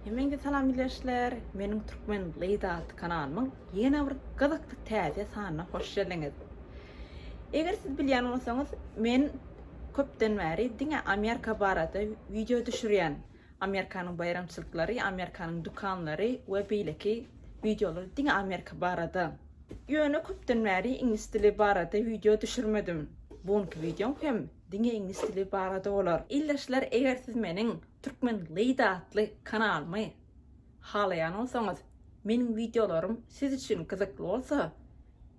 Hemeňize salam bileşler. Meniň Türkmen Lady atly kanalymyň ýene bir gyzykly täze sanyna hoş geldiňiz. Eger siz bilýän bolsaňyz, men köpden bäri diňe Amerika barada wideo düşürýän. Amerikanyň baýramçylyklary, Amerikanyň dükanlary we beýleki wideolar diňe Amerika barada. Ýöne köpden bäri iňlis dili barada wideo düşürmedim. Bu günki wideom hem diňe iňlis dili barada bolar. Ildeşler eger siz meniň Türkmen Lady atly kanalymy Halaýan bolsaňyz, meniň wideolarym siz üçin gyzykly bolsa,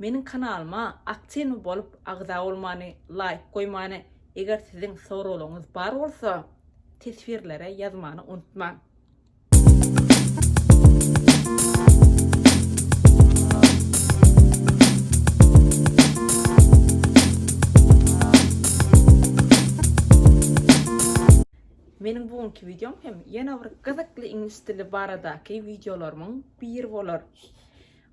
meniň kanalyma aktiwny bolup agza bolmany, laýk goýmany, eger siziň soraglaryňyz bar bolsa, teswirlere ýazmany unutmaň. Meniň bu günki wideom hem ýene bir gyzykly iňlis dili baradaky wideolarymyň biri bolar.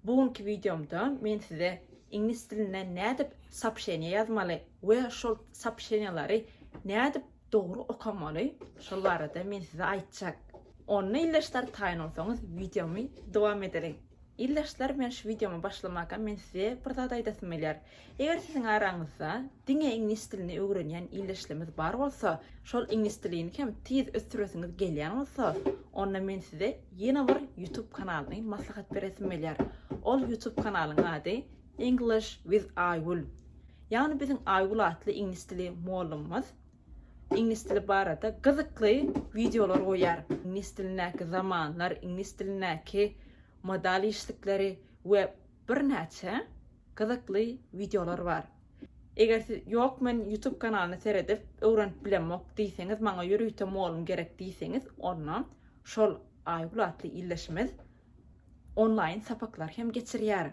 Bu günki wideomda men size iňlis dilinde nädip soobşeniýa ýazmaly we şol soobşeniýalary nädip dogry okamaly, şol barada men size aýtjak. Onda ildeşler taýyn bolsaňyz wideomy dowam edeliň. Ildeşler bilen şu wideomy başlamakam men size bir zat aýdasym gelýär. Eger siziň araňyzda diňe iňlis dilini öwrenýän ildeşlimiz bar bolsa, şol iňlis dilini hem tiz ösdüresiňiz gelýän bolsa, onda men size ýene bir YouTube kanalyny maslahat beresim gelýär. Ol YouTube kanalyň ady English with Aýgül. Ýagny biziň Aýgül atly iňlis dili mollymymyz Iňlis dili barada gyzykly wideolar goýýar. Iňlis dilindäki zamanlar, iňlis dilindäki modal işlikleri we birnäçe gyzykly wideolar bar. Eger siz ýok men YouTube kanalyny seredip öwrenip bilemok diýseňiz maňa ýörite mugallym gerek diýseňiz onda şol Aýgül atly ildeşimiz onlaýyn sapaklar hem geçirýär.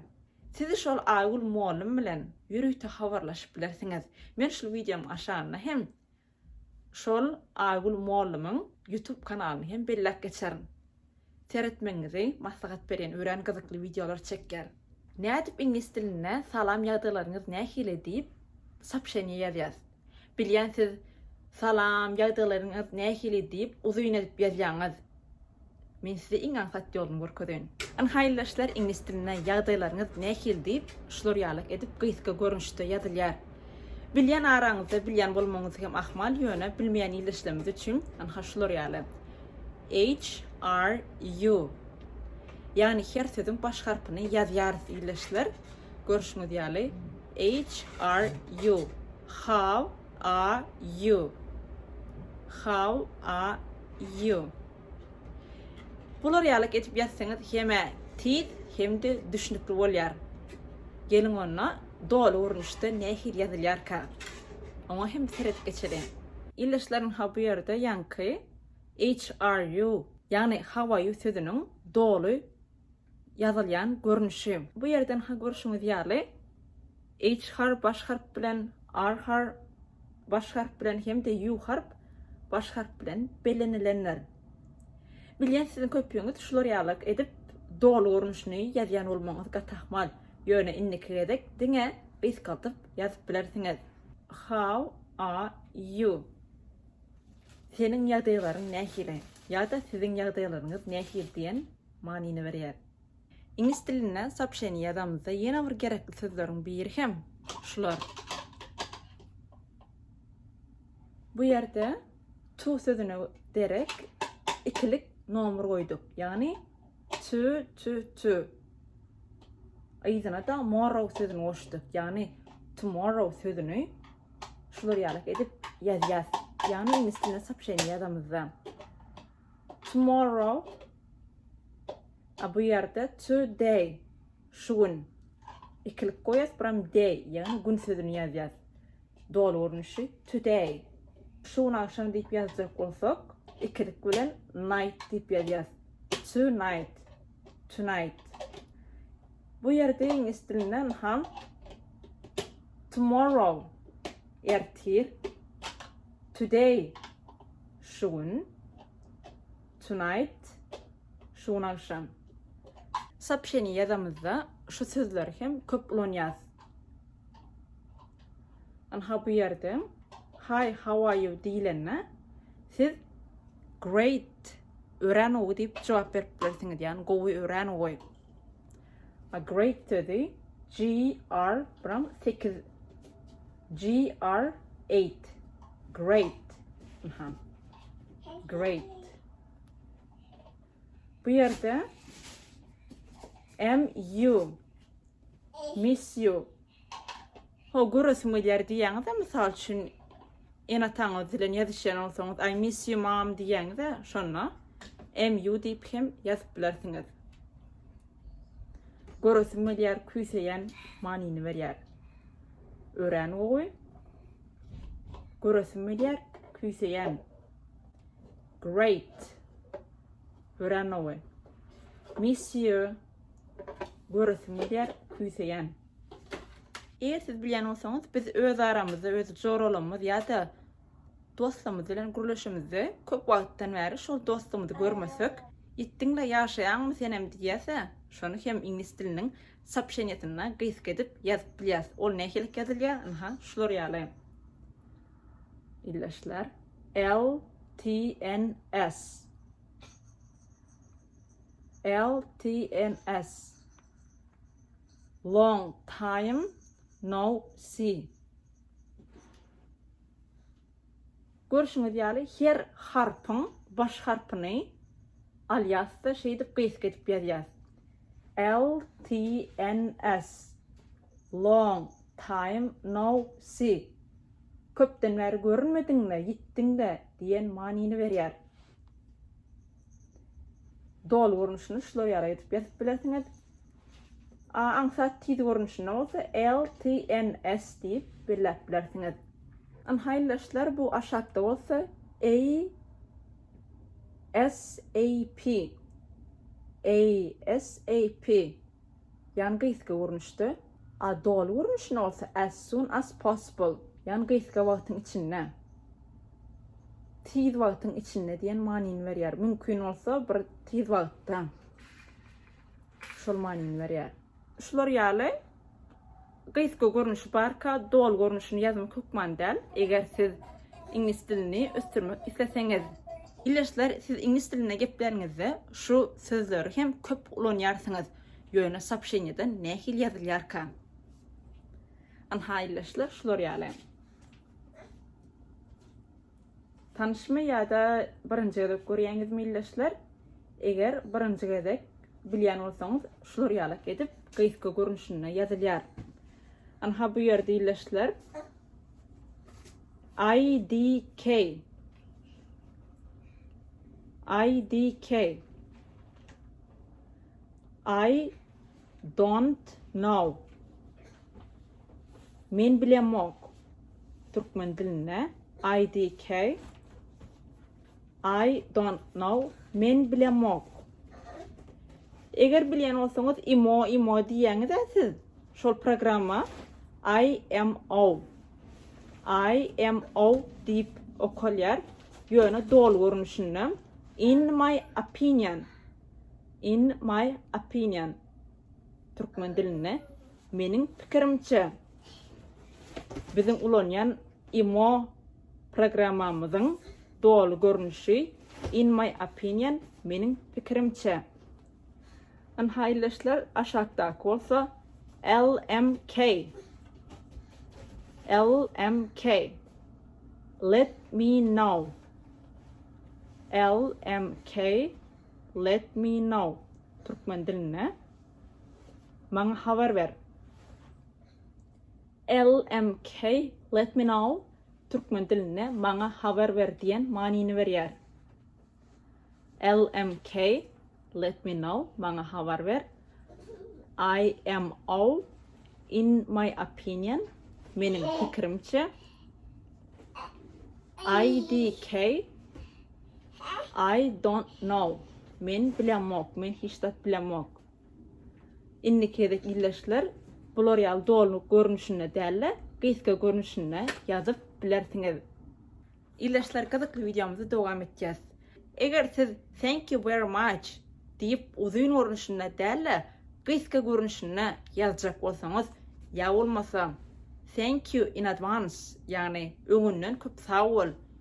Siz şol Aýgül mollum bilen ýörite habarlaşyp bilersiňiz. Men şul wideomyň aşagynda hem şol Aýgül mollumyň YouTube kanalyny hem belläp geçerin. Seretmegiňizi maslahat berýän örän gyzykly wideolar çekýär. Nädip iňlis dilinde salam ýagdaýlaryňyz nähili diýip sopşeniýe ýazýas. Bilýän siz Salam, ýagdaylaryňyz nähili diýip uzyn edip ýazýaňyz. Men size iň aňsat ýoluny görkezeýin. Iň haýyly işler iňlis dilinde ýagdaýlaryňyz nähili diýip şular ýaly edip gysga görnüşde ýazylýar. Bilýän araňyzda bilýän bolmagyňyz hem ahmal ýöne bilmeýän ýyl işlemesi üçin ynha şular ýaly HRU ýagny her sözüň baş harpyny ýazýarys ýyl işler görşüňiz ýaly. HRU How are you? How are you? Bular ýalyk edip ýazsaňyz hem-ä tiz hem-de düşnükli bolýar. Geliň onda doly görnüşde nähili ýazylýarka? Oňa hem seredip geçeliň. Ildeşlerim ha bu ýerde ýaňky HRU ýagny How are you sözüniň doly ýazylýan görnüşi. Bu ýerden ha görşüňiz ýaly H harp baş harp bilen, R har baş harp bilen hem-de U harp baş harp bilen bellenilenler. Bilýän siziň köpüňiz şular ýaly edip doly görnüşini ýazýan bolmagyňyz gaty ahmal, ýöne indiki gezek diňe gysgaldyp ýazyp bilersiňiz. How are you? Seniň ýagdaýlaryň nähili? ýa-da siziň ýagdaýlaryňyz nähili diýen manyny berýär. Iňlis dilinde soopşeniýe ýazamyzda ýene bir gerekli sözleriň biri hem şular. Bu ýerde to sözüne derek ikilik nomer goýduk. Ýagny to to to. Yzyna-da morrow sözüni goşduk. Ýagny tomorrow sözüni şular ýaly edip ýazýas. Ýagny iňlis dilinde soopşeniýe ýazamyzda. Tomorrow, a bu ýerde to day, şu gün, ikilik goýas, buram day, ýagny gün sözüni ýazýas. Doly görnüşi, to day, şu gün agşam diýip ýazjak bolsak, ikilik bilen night diýip ýazýas. To night, to night. Bu ýerde iňlis dilinde ynham tomorrow, ertir, to day, Şu gün. Tonight. Şu gün agşam. Sopşeni ýazamyzda şu sözleri hem köp ulanýas. Anha bu ýerde Hi, how are you diýilende siz great ören ogy diýip jogap berip bilersiňiz. Ýani gowy ören ogy. A great sözi G R bilen 8 GR8. Great. Aha. Great. Bu yerde MU. Miss you. Ho, görürsün iler diýýäňiz de, mysal üçin, en ataňyz bilen ýazışýan bolsaňyz, I miss you mom diýýäňiz de, şonda MU diýip hem ýazyp bilersiňiz. Görürsün gelýär, küýseýän manyny berýär. Örän gowy. Göresim gelýär, küýseýän. Great. Örän gowy. Monsieur. Göresim gelýär, küýseýän. Eger siz bilýän bolsaňyz, biz öz aramyzda, öz joralarymyz ýa-da dostumyz bilen gürleşimizde köp wagtdan bäri şol dostumyzy görmesek, ýitdiňle ýaşaýaňmy senem diýýäse, şony hem iňlis diliniň Sopşenýesinde gysga edip ýazyp bilýäs. Ol nähililik ýazylýar? Ynha, şular ýaly. Ildeşler. LTNS. LTNS. Long time no see. Görşüňiz ýaly, her harpyň baş harpyny alýas-da, şeýdip gysga edip ýazýas. LTNS, Long time no see, Köpden bäri görünmediňmi, ýitdiň-dä, diýen manyny berýär. Doly görnüşini şular ýaly edip ýazyp bilersiňiz. A aňsat tiz görnüşinde bolsa LTNS diýip belläp bilersiňiz. Ynha haýyldaşlar bu aşakda bolsa ASAP. ASAP. Ýan gysga görnüşde. A doly görnüşinde bolsa as soon as possible, ýan gysga wagtyň içinde, tiz wagtyň içinde diýen manyny berýär. Mümkin bolsa bir tiz wagtda. Şol manyny berýär. Şular ýaly. Gysga görnüşi barka doly görnüşini ýazmak hökman däl. Eger siz iňlis dilini ösdürmek isleseňiz, Bilersler siz iňlis dilinde gepläniňizde şu sözleri hem köp ulanýarsyňyz, ýöne sopşenýede nähili ýazylýarka? Ynha Ileşler şular ýaly. Tanyşmy ýa-da birinji gezek görýäňizmi ildeşler? Eger birinji gezek bilýän bolsaňyz şular ýalak edip gysga görnüşinde ýazylýar. Ynha bu ýerde ildeşler IDK IDK I don't know Men bilemok türkmen dilinde IDK I don't know men bilemok. Eger bilýän bolsaňyz imo imo diýýäňiz-ä siz şol programma IMO IMO diýip okalýar. Ýöne doly görnüşinde in my opinion in my opinion Türkmen dilinde meniň pikirimçe biziň ulanýan imo programmamyzyň doly görnüşi in my opinion meniň pikirimçe ynha ildeşler aşakdaky bolsa lmk lmk let me know lmk Let me know, türkmen dilinde, Maňa habar ber. LMK, Let me know, türkmen dilinde, Maňa habar ber diýen manyny berýär. LMK, Let me know, Maňa habar ber. IMO, In my opinion, Meniň pikirimçe. IDK, I don't know. Men bilemok, men hiç zat bilemok. Indiki gezek ildeşler bular ýaly dolnyk görnüşinde däl-de, gysga görnüşinde ýazyp bilersiňiz. Ildeşler gyzykly wideomyzy dowam etýäs. Eger siz Thank you very much diýip uzyn görnüşinde däl-de, gysga görnüşinde ýazjak bolsaňyz, ýa bolmasa Thank you in advance, ýagny öňünden köp sag bol,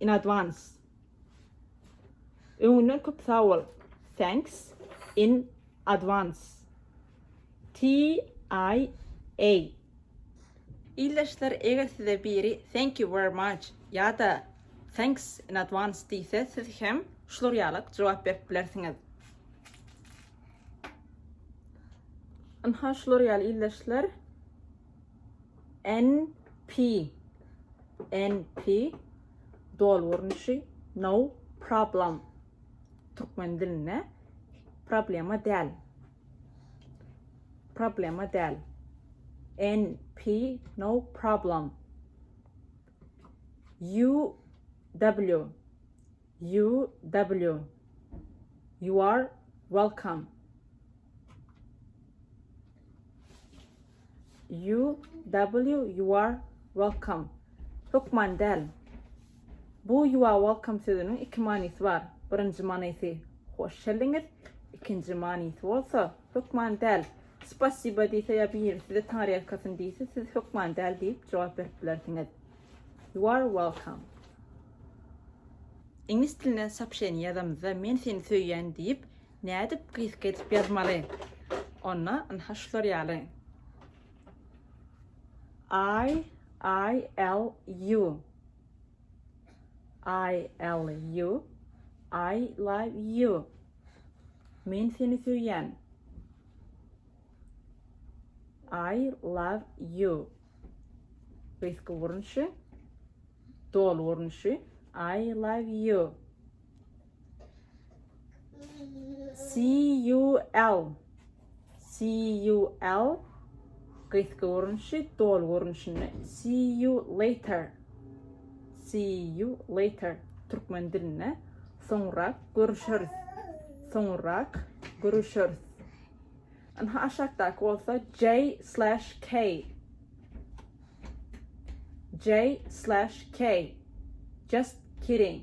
in advance Öňünden köp sag bol Thanks in advance TIA Ildeşler eger size biri Thank you very much ýa-da Thanks in advance diýse siz hem şular ýaly jogap berip bilersiňiz. Ynha şular ýaly ildeşler. NP NP doly görnüşi no problem türkmen dilinde problema däl problema däl NP no problem UW UW You are welcome UW You're welcome Hökman däl Bu You're welcome sözüniň iki manysy bar. Birinji manysy Hoş geldiňiz, ikinji manysy bolsa Hökman däl. Spasiba diýse ýa biri size taňryýalkasyn diýse siz hökman däl diýip jogap berip bilersiňiz. You're welcome. Iňlis dilinde soopşeniýa ýazamyzda men seni söýýän diýip Nädip gysga edip ýazmaly onda ynha şular ýaly I I L U I L U I love you Men seni söýýän I love you Gysga görnüşi doly görnüşi I love you CUL CUL gysga görnüşi doly görnüşinde See you later See you later türkmen dilinde soňra görüşeris soňra görüşeris Aha aşakdaky bolsa J/K J/K Just kidding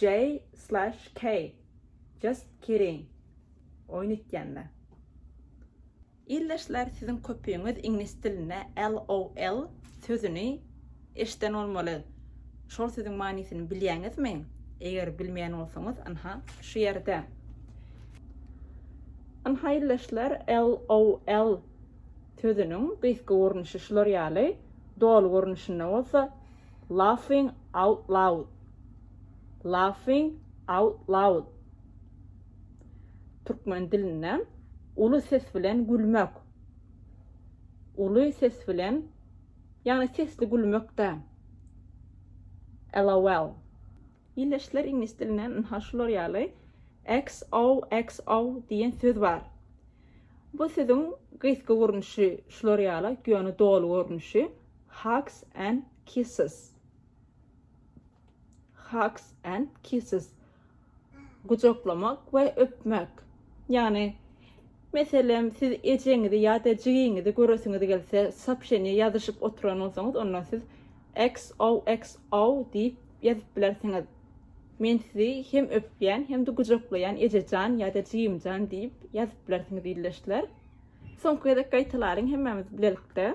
J slash K just kidding oýun etýänme. Ildeşler siziň köpüňiz iňlis dilinde LOL sözüni eşden bolmaly. Şol sözüň manysyny bilýäňizmi? Eger bilmeýän bolsaňyz ynha şu ýerde. Ynha ildeşler LOL sözüniň gysga görnüşi şular ýaly, doly görnüşinde bolsa Laughing out loud. Laughing out loud. Türkmen dilinde uly ses bilen gülmek. Uly ses bilen, ýagny sesli gülmek-dä. LOL. Ildeşler iňlis dilinde ynha şular ýaly XOXO diýen söz bar. Bu sözüň gysga görnüşi şular ýaly, ýöne doly görnüşi. Hugs and kisses Hugs and kisses Gujaklamak we öpmek. Ýagny, meselem, siz ejeňizi ýa-da jigiňizi göresiňiz gelse, soobşeniýe ýazyşyp oturan bolsaňyz, onda siz XOXO diýip ýazyp bilersiňiz. Men sizi hem öpýän, hem-de gujaklaýan ejejan ýa-da jigimjan diýip ýazyp bilersiňiz ildeşler. Soňky gezek gaýtalalyň hemmämiz bilelikde.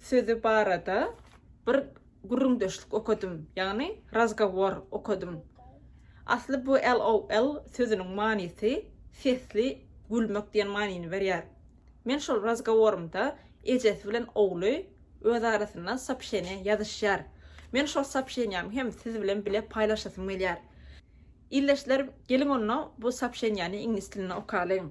sözi barada bir gürrüňdeşlik okadym, ýagny razgowor okadym. Asly bu LOL sözüniň manysy sesli gülmek diýen manyny berýär. Men şol razgoworymda ejesi bilen ogly öz arasynda sopşeniýa ýazyşýar. Men şol sopşeniýamy hem siz bilen bile paýlaşasym gelýär. Ildeşler, geliň onda bu sopşeniýany iňlis dilinde okalyň.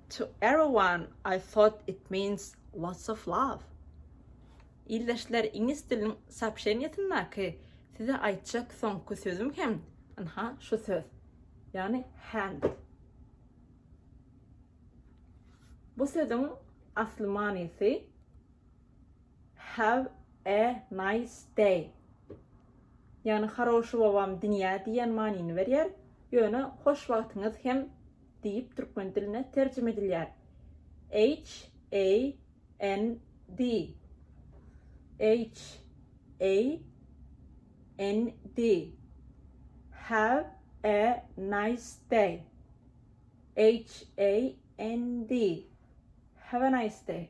To everyone I thought it means lots of love. Ildeşler iňlis diliniň soobşeniýasyndaky size aýtjak soňky sözüm hem ynha şu söz. Ýagny hand. Bu sözüň asly manysy have a nice day. Ýagny haroşy bobam dünýä diýen manyny berýär. Ýöne hoş wagtyňyz hem diýip türkmen diline terjime edilýär. HAND HAND Have a nice day HAND Have a nice day